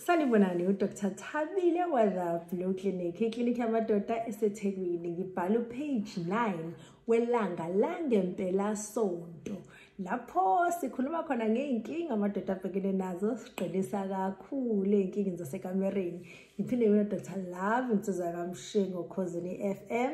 sanibonani udr thabile wazablow clinic iklinikhi yamadoda esethekwini ngibhala upage 9 welanga langempelasonto lapho sikhuluma khona ngey'nkinga amadoda abhekene nazo siqinisa kakhulu ey'nkingeni zasekamereni ngiphinde mina dr love insizwa kamshingo khosini i-f m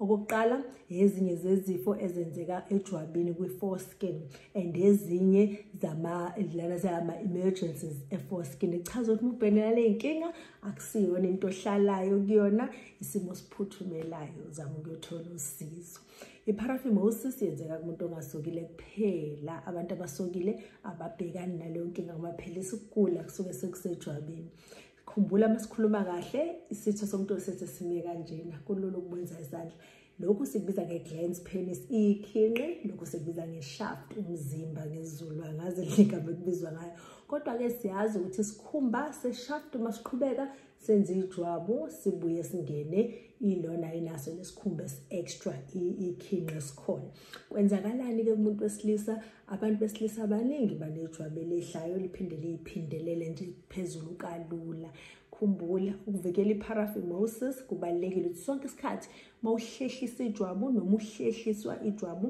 Okokuqala ezinye zezifo ezenzeka ejwabini kwi-foreskin and ezinye zama-lana zama-emergencies e-foreskin echaza ukuthi mubhenela le nkinga akusiyona into ohlalayo kuyona isimo siphuthumelayo zama ukuyothola usizo i-paraphimosis yenzeka kumuntu ongasokile kuphela abantu abasokile ababhekani naleyo nkinga ngoba phela isikugula kusuke sekusejwabini khumbula uma sikhuluma kahle isitho somuntu wesenze sime kanjena kulula ukubwenza izandla lokhu sikubiza nge-glans penis iyikhinqi lokhu sikubiza nge-shaft umzimba ngezulu angazi ligama ekubizwa ngayo kodwa-ke siyazi ukuthi sikhumba se-shaft uma siqhubeka senze ijwabu sibuye singene ilona inaso lesikhumba esi-extra ikhinqi esikhona kwenzakalani-ke kumuntu wesilisa abantu besilisa abaningi banejwabu elidlayo liphinde liyiphindelele nje phezulu kalula khumbula ukuvikela i-paraphimosis kubalulekile ukuthi sonke isikhathi uma uhlehlisa ijwabu noma uhlehliswa ijwabu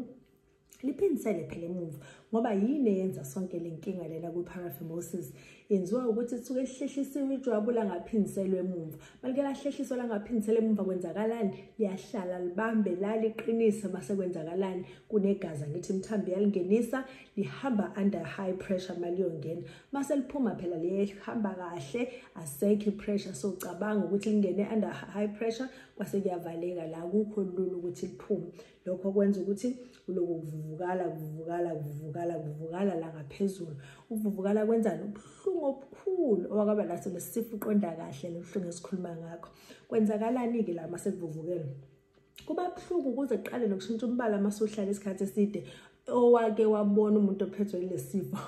liphindisele phela emuva ngoba yini eyenza sonke le nkinga lena kwi-paraphimosis yenziwa ukuthi lisuke lihlehlisiwe ijwabu langaphindiselwa emumva malike lahlehliswa langaphindiselwa emumva kwenzakalani liyahlala libambe la liqinise mase kwenzakalani kunegazi angithi imthambi yalingenisa lihamba under high pressure maliyongena mase liphuma phela lihamba kahle asekho ipressure so cabanga ukuthi lingene under high pressure kwase kuyavaleka la kukho lula ukuthi liphume lokho kwenza ukuthi kuloku kuvuvukala kuvuvukala kuvuvukala kuvuvukala la ngaphezulu ukuvuvukala kwenzani ubuhlungu obukhulu owakaba naso lesifo uqonda kahle lobuhlungu esikhuluma ngakho kwenzakalani-ke la uma sekuvuvukele kuba buhlungu kuze kuqale nokushintsha umbala uma suhlala isikhathi eside owake wabona umuntu ophethwe lesifo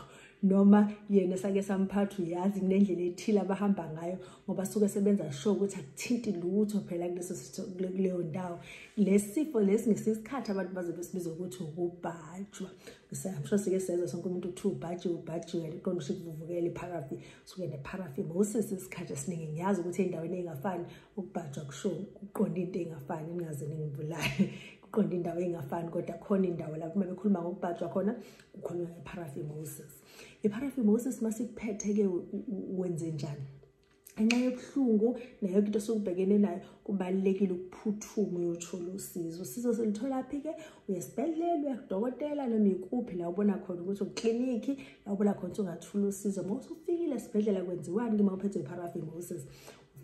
noma yena sake samphatha uyazi kunendlela ethile abahamba ngayo ngoba suke sebenza sho ukuthi akuthinti lutho phela kuleso kuleyo ndawo lesifo lesi ngesikhathi abantu baze besibiza ukuthi ukubhajwa ngisayamsho sike senza sonke umuntu uthi ubhaji ubhaji wena iqondo usho kuvuvukela ipharafi suke nepharafi ngosisi isikhathi esiningi ngiyazi ukuthi endaweni engafani ukubhajwa kusho ukuqonda into engafani ningaze ningibulale qonda indawo engafani kodwa khona indawo lapho uma bekhuluma ngokubhajwa khona kukhulunywa nge-paraphimosis i-paraphimosis uma sikuphethe-ke wenze njani ngenxa yobuhlungu nayo into esukubhekene nayo kubalulekile ukuphuthuma uyothola usizo usizo silutholaphi-ke uyesibhedlela uyakudokotela noma ikuphi la ubona khona ukuthi uklinikhi la ubona khona ukuthi ungathula usizo uma usufikile esibhedlela kwenziwani-ke uma uphethwe i-paraphimosis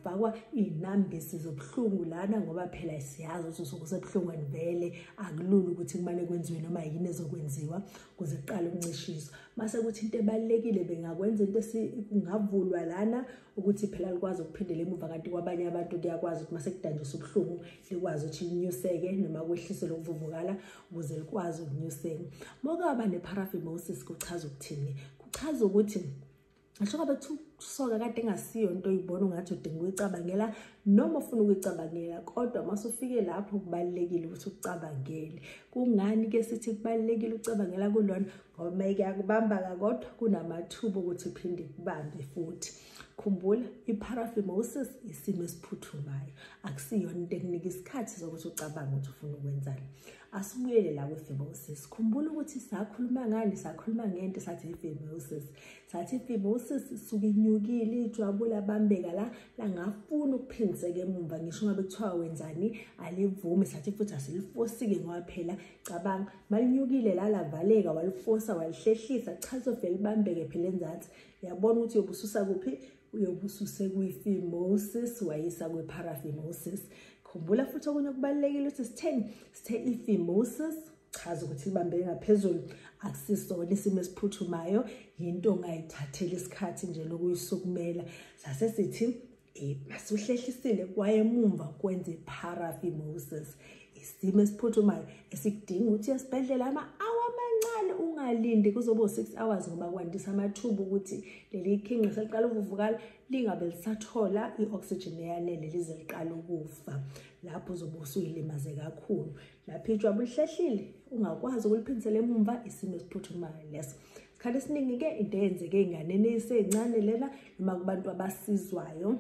fakwa iy'nambisi zobuhlungu lana ngoba phela siyazi ukuthi usuke usebuhlungu and vele akulula ukuthi kumane kwenziwe noma yini ezokwenziwa kuze kuqale ukuncishiswa mase kuthi into ebalulekile bengakwenza into esingavulwa lana ukuthi phela likwazi ukuphindela emuva kanti kwabanye abantu kuyakwazi ukuthi mase kudanjiswa ubuhlungu likwazi ukuthi linyuseke noma kwehliswe lokuvuvukala ukuze likwazi ukunyuseka mokaba ne-paraphimosis kuchaza ukuthini kuchaza ukuthi ngisho ngabe soka kade engasiyo into oyibona ungathi udinga ukuyicabangela noma ufuna ukuyicabangela kodwa uma usufike lapho kubalulekile ukuthi ucabangele kungani ke sithi kubalulekile ucabangela kulona ngoba uma ikuyakubamba-ka kodwa kunamathuba okuthi phinde kubambe futhi khumbula i-paraphimosis isimo esiphuthumayo akusiyona into ekunika isikhathi sokuthi ucabange ukuthi ufuna ukwenzani asibuyele la kwi-phimosis khumbula ukuthi sakhuluma ngani sakhuluma ngento sathi i-phimosis sathi i-phimosis isuke inyukile ijwabula bambeka la langafuni ukuphindiseka emumva ngisho ngabe kuthiwa wenzani alivumi sathi futhi asilifosike ngoba phela cabanga malinyukile la lavaleka walifosa walihlehlisa kuchaza uvele libambeke phela enzansi yabona ukuthi yobususa kuphi uyobususe kwi-phimosis wayisa kwi-paraphimosis khumbula futhi okunye okubalulekile ukuthi sitheni sithe i-phimosis chaza ukuthi ibambe ngaphezulu akusisona isimo esiphuthumayo yinto ongayithatheli isikhathi nje lokuyisukumela sase sithi eh, masuhlehlisile kwayemumva kwenze paraphimosis isimo esiphuthumayo esikudinga ukuthi esibhedlela ama-awa amancane ungalindi kuzoba u-six hours ngoba kwandisa amathuba ukuthi leli khinqi seliqala ukuvukala lingabe lisathola i-oxygen eyanele lize liqala ukufa lapho uzobe usuyilimaze kakhulu lapho ijwabu lihlehlile ungakwazi ukuliphindisela emumva isimo esiphuthumayo leso isikhathi esiningi-ke into eyenzeke ey'nganeni eyiseyincane lena noma kubantu abasizwayo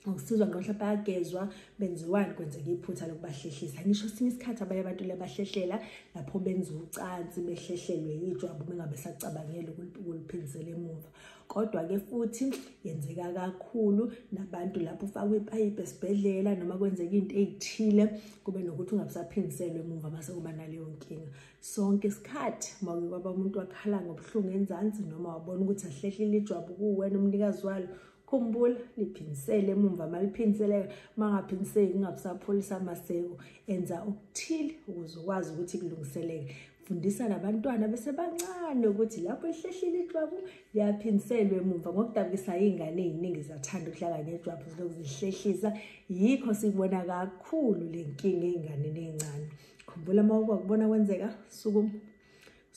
ukusizwa noma mhlawumbe ayagezwa benziwani kwenzeka iphutha lokubahlehlisa ngisho sinye isikhathi abanye abantu lebahlehlela lapho benza ucansi behlehlelwe yijwabu bengabe sacabangele ukuliphindisela emuva kodwa-ke futhi yenzeka kakhulu nabantu lapho ufakwa ipayipi esibhedlela noma kwenzeka into eyithile kube nokuthi ungabusaphindiselwe emuva mase kuba naleyo nkinga sonke isikhathi uma uke kwaba umuntu wakhala ngobuhlungu enzansi noma wabona ukuthi ahlehlile ijwabu kuwena umnikazi walo khumbula liphinisele emumva maliphinseleka mangaphiniseki kungabusapholisa amaseko enza okuthile ukuze ukwazi ukuthi kulungiseleke fundisa nabantwana besebancane ukuthi lapho lihlehlile ijwabu liyaphindiselwa emumva ngokudabukisa iy'ngane ey'ningi zathanda ukudlala ngejwabu ziloku zihlehlisa yikho sibona kakhulu le nkinga ey'nganeni ey'ncane khumbula uma ukwakubona kwenzeka sukuma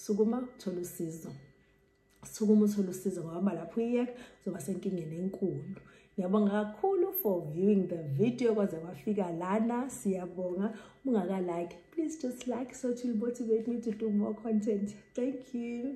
sukuma thola usizo sukuma uthole usizo ngoba uma lapho uyiyeka uzoba senkingeni enkulu ngiyabonga kakhulu for viewing the video kwaze kwafika lana siyabonga ungakalike please just like so to motivate me to do more content thank you